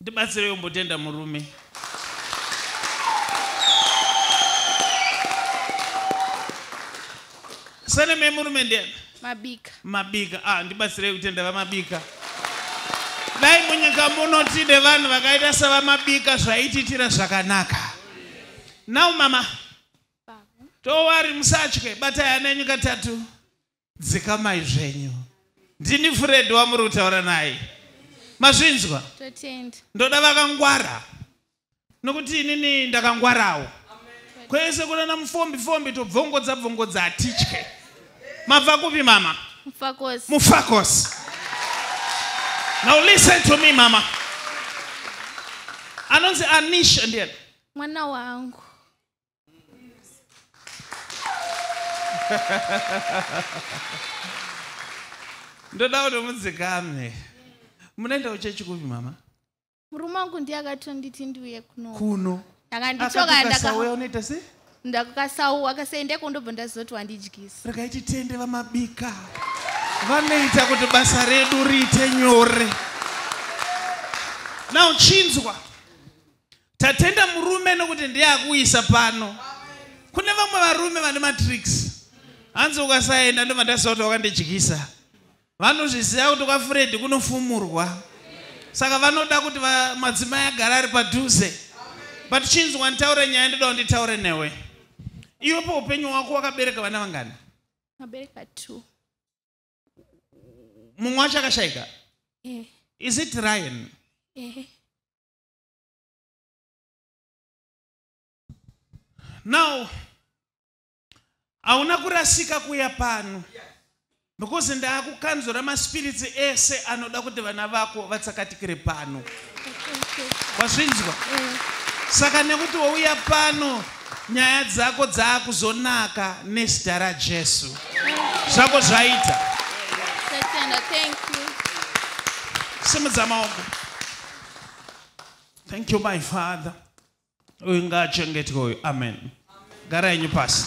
Ndibatsire yombotenda murume. Sane me murume ndiye. Mabika. Mabika. Ah, ndibatsire kutenda vamabika. Dai munyika muno tide vanhu vakaita sevamabika zvaititira zvakanaka. Now mama. Don't worry musatye batai ana enyu katatu. dzikamai zvenyu ndini furedi wamuri kutaura naye mazvinzwa ndoda vakangwara nokuti inini ndakangwarawo kwese kunana mufombi fombi tobvongodza bvongodza hatitye mabva kupi mama mufakosi now listen to me mama anonzi anisha ndiyani mwana wangu ndoda kuti mudzikame munoenda kuchechi kupi mama murume wangu ndiye akatonditi ndiuye kuno kuno akanditokandakauya unoita se ndakukasau akasaendeko ndobva ndazoti wandidyisa rakaiti tende vamabika vanoita kuti basa redu riite nyore now chinzwa Tatenda murume nokuti ndiye akuisa pano. Kune vamwe varume vane matricks. Hanzi ukasaenda ndobva ndaziva kuti wakandidyisa. Vanozviziva kuti kwaFredi kunofumurwa. Saka vanoda kuti madzimai agara ari padhuze. But chinzwa nditaure nyaya ndoda kunditaure newe. Iwe paupenyu hwako wakabereka vana vangani? Mabereka two. Mumwe wacho akashaika? Eh. Is it Ryan? Eh. now hauna kurasika kuya pano because ndaakukanzura maspiritsi ese anoda kuti vana vako vatsakatikire pano wazvinzwa saka nekuti wouya pano nyaya dzako dzaakuzonaka nezita rajesu zvako zvaita simudza maoko thank you my father uyu ngaachengetwe uyu amen gara yenyu pasi